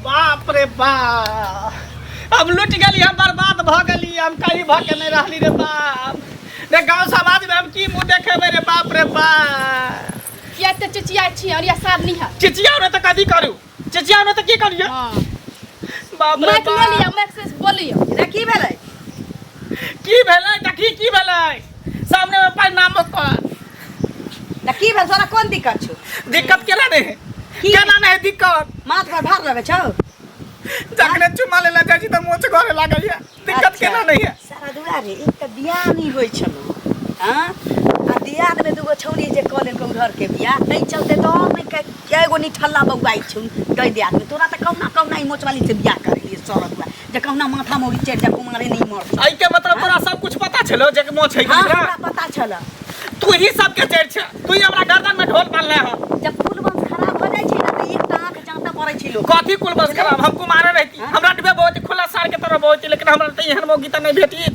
बाप रे बा हम लुटि गेली हम बर्बाद भऽ गेली हम कहीं भऽ के नहि रहली रे बाप रे गाँव समाजमे हम की मुँह देखेबै रे बाप रे बा किया ते चिचिया छी और या साथ नहीं है चिचिया ने तऽ कथी करू चिचिया ने तऽ की करियै हां बाप रे माइक ले बा लिया माइक से बोलियो रे की भेलै की भेलै देखी की भेलै सामने मे परिणाम ओकर त की भेल तोरा कोन दिक्कत छौ दिक्कत केना नहि है की? केना नहि है दिक्कत माथ पर भार लगे छौ जखने चुमा लेला जाइ छी तऽ मोच घरे लागल है दिक्कत अच्छा। केना नहीं है सारा दुआरे एक तऽ बियाह नहि होइ छलो हँ आ दियाद में दूगो छौड़ी जे कऽ लेलकौ घर के बियाह तै चलते तो और नहि कह कै गो निठल्ला बौआइ छौ दै दे आदमी तोरा तऽ कहुना कहुना ई मोचवाली से बियाह कर लिए सर हुआ जे कहुना माथा मोरी चढ़ जा कुमारे नहीं मर सक एहि के मतलब तोरा सब कुछ पता छलो जे के मोछ है हाँ हमरा किनका पता छल तू ही सब के जड़ छ तू ही हमरा गर्दन में ढोल बांधले ह जब कुल वंश खराब हो जाइ छै ने तऽ एकटा आँख जाँतऽ पड़ै छै लोक कथी कुल बस खराब हम कुमारे रहती हमरा डबे बहुत खुला सार के तरह बहुत लेकिन हमरा त एहन मौगी त नहीं भेटी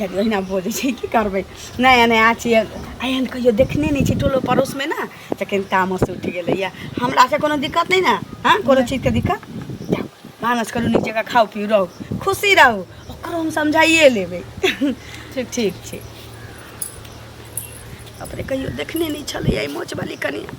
ओहिना बोलै छै की करबै नया नया छियै एहन कहियो देखने नहि छी टोलो पड़ोसमे ने जखन तामस उठि गेलैया हमरा से कोनो दिक्कत नहि ने हँ कोनो चीजके दिक्कत जाउ भानस करू नीक जगह खाउ पिउ रहू खुशी रहू ओकरो हम समझाइए लेबै ठीक ठीक छै अपने कहियो देखने नहि छलैया ई मोचवाली कनिया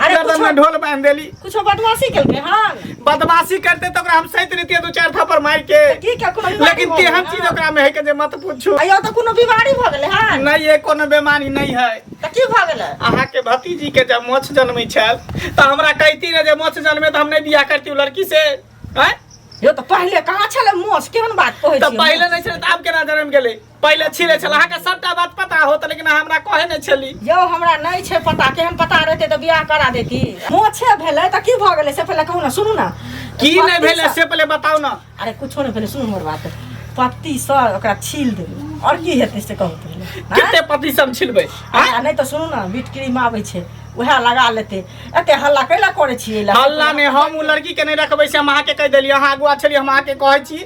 अरे गर्दन कुछो- में ढोल बांध देली कुछो बदमाशी केलकै हन बदमाशी करते तो ओकरा हम सहित रहितियै दू चार थप्पड़ मार के की के कोनो बीमारी लेकिन भऽ गेलै तेहन चीज हन? ओकरा में है के जे मत पूछू अयो तऽ कोनो बीमारी भऽ गेलै हन नहीं ये कोनो बीमारी नहीं है तऽ की भऽ गेलै अहाँ के भतीजी के जब मोछ जन्मे छल तो हमरा कहती रहे जे मोछ जन्मे तो हम नहीं बियाह करती उ लड़की से हैं? यो तऽ पहिले कहाँ छलै मोस केहन बात कहै तो छियै पहले नहीं छल तो आब केना जन्म गेले पहिले छिले छल अहाँके सबटा बात पता होत लेकिन अहाँ हमरा कहे नहि छली यौ हमरा नहि छै पता केहन पता रहते तऽ बियाह करा देती मोछे भेलै तऽ की भऽ गेलै से पहिले कहू ने सुनू ने की नहि भेलै से पहिले बताउ ने अरे कुछो नहि भेलै सुनू हमर बात पत्ती से ओकरा छील देबै आओर की हेतै से कहू पहिले कते पत्ती सब छिलबै नहि तऽ सुनू ने बीट क्रीम आबै छै वएह लगा लेते एते हल्ला कैला करे छी हल्ला ने हम उ लड़की के नहीं रखबे से हम अहाँ के कह देलियै अहाँ अगुआ छलियै हम अहाँ के कहे छी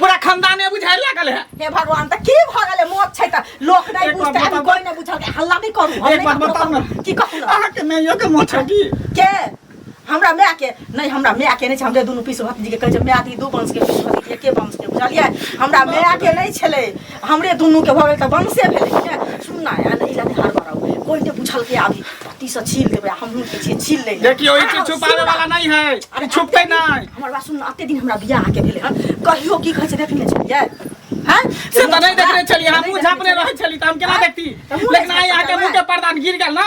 पूरा खानदाने बुझाए लागल है हे भगवान त की भ गेले मोत छै त लोक नै एक बात बुझते आदमी बताउ। कोइ नै बुझल के हल्ला नै करू हम एक नै बात ककरो बताउ न। कहब। की कहू न? अहाँ के माइयो के मोछ है की के हमरा माय के नै हमरा माय के नै छै हमरे दुनु पीस भतीजी के कहै छै माय दी दू वंश के पीस भतीजी के वंश के बुझलियै हमरा माय के नै छलै हमरे दुनूके भऽ गेल तऽ वंशे भेलै ने सुन ना आ नहि लगे हर बार आउ कोई ने बुझलकै अभी पति से छील देबै आ हमहूँ के छियै छील लै देखियो ई चीज छुपावे वाला नहीं है ई छुपते नहीं हमर बात सुन अते दिन हमरा बियाह के भेलै हन कहियो की कहै छै देखने छलियै हैं से तो नहीं देख रहे चलिए हम मुंह झापने रहे चली तो हम केना देखती लेकिन आई आके मुंह के पर्दा गिर गेल ना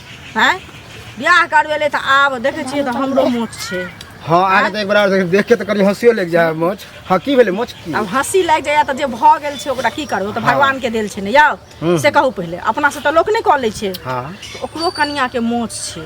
हैं बियाह करवेले त आब देखे छिए त हमरो मोछ छे हां आगे त एक बार देख देख के त करी हंसियो लग जाय मोछ हां की भेले मोछ की अब हंसी लग जाय त जे भ गेल छे ओकरा की करबो त भगवान के देल छे ने यौ हम्म। से कहू पहिले अपना से त लोक नै क ले छे हां ओकरो कनिया के मोछ छे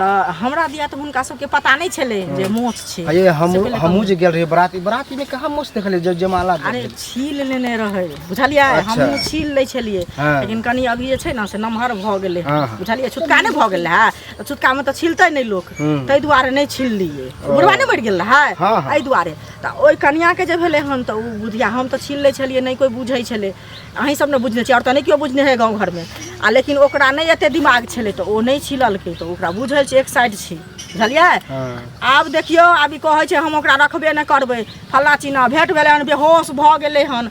त हमरा दिया त हुनका सब के पता नै छले जे मोछ छे अरे हम से पहिले हमहू कहू। जे गेल रही बराती बराती में कहां मोछ देखले जे जमाला अरे देखले। छील लेने रहे बुझलियै अच्छा। हमहूँ छील लै छलियै हँ। लेकिन कनि अभी जे छै ने से नमहर भऽ गेलै हँ, हँ। बुझलियै छुटका नहि भऽ गेल रहै तऽ छुटकामे तऽ छिलतै नहि लोक हूँ। ताहि दुआरे नहि छिललियै ओ। बुढ़वा नहि मरि गेल रहै हँ, हँ। एहि दुआरे तऽ ओहि कनियाके जे भेलै हन तऽ ओ बुधिया हम तऽ छील लै छलियै नहि कोइ बुझै छलै अहीं सब ने बुझने छियै आओर तऽ नहि केओ बुझने है गाँव घरमे आ लेकिन ओकरा नहि एते दिमाग छलै तऽ ओ नहि छिललकै तऽ ओकरा बुझल छै एक साइड छै बुझलियै आब देखियौ आब ई कहै छै हम ओकरा रखबे नहि करबै फल्ला चिन्हा भेट भेलै हन बेहोश भऽ गेलै हन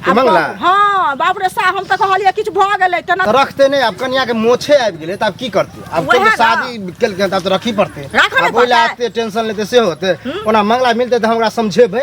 आब मंगला? कह- हँ बाप रे सा हम तऽ कहलियै किछु भऽ गेलै तेना तऽ रखते नहि आब कनिया के मोछे आबि गेलै तऽ आब की करते आब वएह कोई ने। शादी केलकै तऽ आब तऽ रखी पड़ते राखऽ ने आब ओहि लए पड़तै। एते टेंशन लेते से होते ओना मंगला मिलते तऽ हमरा समझेबै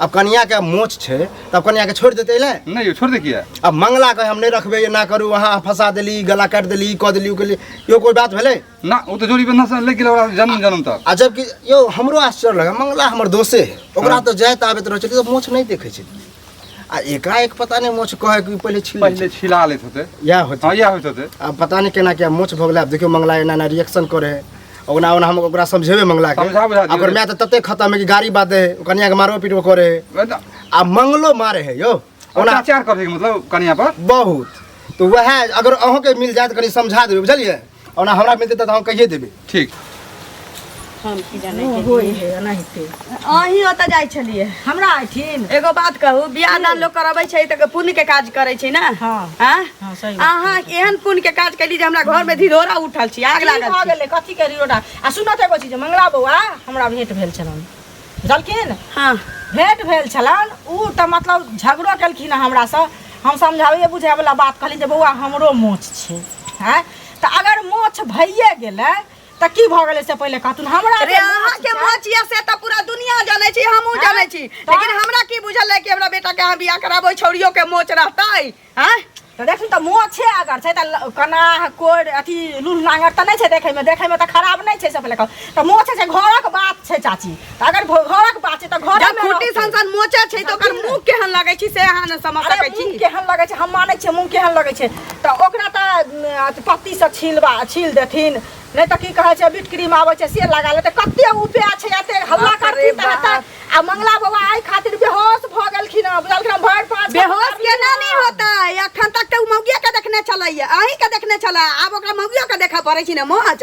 अब कनिया के मोच छै तब कनिया के छोड़ देते ले नहीं छोड़ दे किया अब मंगला के हम नहीं रखबे ये ना करू वहां फंसा देली गला काट देली क देली उ केली यो कोई बात भेले ना वो तो जोड़ी बंधा से ले गेल ओकरा जन्म जन्म तक आ जबकि यो हमरो आश्चर्य लगा मंगला हमर दोसे है। ओकरा तो जाय त आबैत रहै छै तो मोछ नहीं देखै छै आ एकाएक पता नहीं मोछ कहे कि पहिले छिल पहले छिला लेत होते या होते हां या होते होते अब पता नहीं केना क्या मोछ भोगला अब देखियो मंगला एना ना रिएक्शन करे है ओना ओना हम ओकरा समझेबे मंगला के समझा बुझा दियौ। ओकर माय तऽ तते खतम है कि गाड़ी बात है कनिया के मारो पीटो करे है वएह तऽ आ मंगलो मारे है यौ ओना अत्याचार करै के मतलब कनिया पर बहुत तो वह अगर अहूँ के मिल जाए तो कनी समझा देबे बुझलिए ओना हमरा मिलते तऽ हम कहिए देबे ठीक हम की जाने के अहीं ओतऽ जाइ छलिए हमरा आइथिन एगो बात कहू बियाह दान लोग करबै छै तऽ पुण्य के काज करै छै ना हाँ। आँय? हाँ, सही बात। अहाँ एहन पुण्य के काज कैली जे हमरा घर में धिरोरा उठल छी आग की लागल भऽ छी गेलै कथी के रियोडा आ सुनत एगो चीज मंगला बौआ हमरा भेंट भेल छलन बुझलखिन हाँ भेंट भेल छलन उ तऽ मतलब झगड़ो केलखिन हमरा से हम समझाबे बुझाबे वाला बात कहली जे बौआ हमरो मोछ छै हैं तऽ अगर मोछ भइए गेलै त की भ गेलै से पहिले कहतुन हमरा अरे जे अहाँ के माँ माँ छियै से तऽ पूरा दुनिया जानै छी हमहूँ हाँ? जानै छी तऽ? लेकिन हमरा की बुझल है कि हमरा बेटा के अहाँ बियाह कराबै छौड़ियो के मोच रहतै हैं त देखु त मुँह छै अगर छै त ल- कनाह कोर अथी लूल लांगर त नै छै देखै में देखै में त खराब नै छै से पहिले कहू त मुँह छै से घरक बात छै चाची अगर घ- घरक बात छै तऽ घर जब खुट्टी सन सन मोचा छै तऽ ओकर मुंह केहन लगै छै से अहाँ ने समझ अरे सकै मुंह छी केहन लगै छै हम मानै छियै मुंह केहन लगै छै तऽ ओकरा तऽ उम, अथी पत्तीसँ छीलबा छील देथिन नहि तऽ की कहै छै बीट क्रीम आबै छै से लगा लेतै कते उपाय छै एते हल्ला बाप रे करती तऽ बाप। हेतै। आ मंगला बाबा एहि खातिर बेहोश भऽ गेलखिन हँ बुझलखिन हँ, भरि पाँच बेहोश केना नहि होता अखन तक तऽ उ मौगिया के देखने छलैया अहीं के देखने छला आब ओकरा मौगियो के देखऽ पड़ै छै ने माछ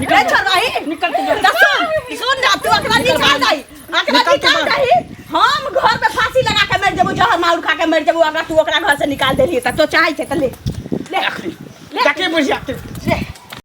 निकल ए छोड़ रही निकल के बाहर। दसुन सुन ना तू अकरा निकल निकाल बाहर। दई अकरा निकल के निकाल बाहर। दई हम घर में फांसी लगा के मर जेबो जहर माउर खा के मर जेबो अगर तू ओकरा घर से निकाल देली त तो चाहे छै त ले ले आखिरी ले। जाके बुझिया तू ले